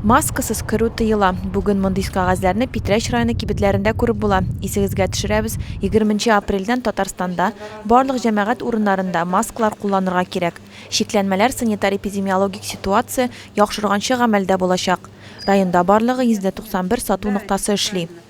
Маскасыз керү тыела. Бүген мондый кәгазьләрне Питрәч районы кибетләрендә күреп була. Исегезгә төшерәбез, егерменче апрельдән Татарстанда барлык җәмәгать урыннарында масклар кулланырга кирәк. Чикләнмәләр санитар-эпидемиологик ситуация яхшырганчы гамәлдә булачак. Районда барлыгы 191 сату ноктасы эшли.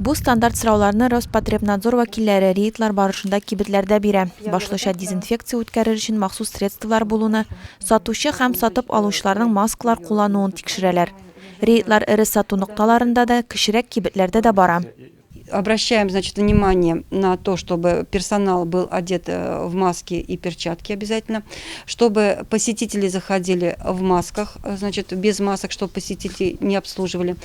Бу стандарт сорауларны Роспотребнадзор вәкилләре рейдлар барышында кибетләрдә бирә. Башлыча дезинфекция үткәрер өчен махсус средстволар булуны, сатучы һәм сатып алучыларның маскалар куллануын тикшерәләр. Рейдлар эре сату нокталарында да, кечерәк кибетләрдә дә бара. Обращаем, значит, внимание на то, чтобы персонал был одет э, в маски и перчатки обязательно, чтобы посетители заходили в масках, э, значит, без масок, чтобы посетителей не обслуживали.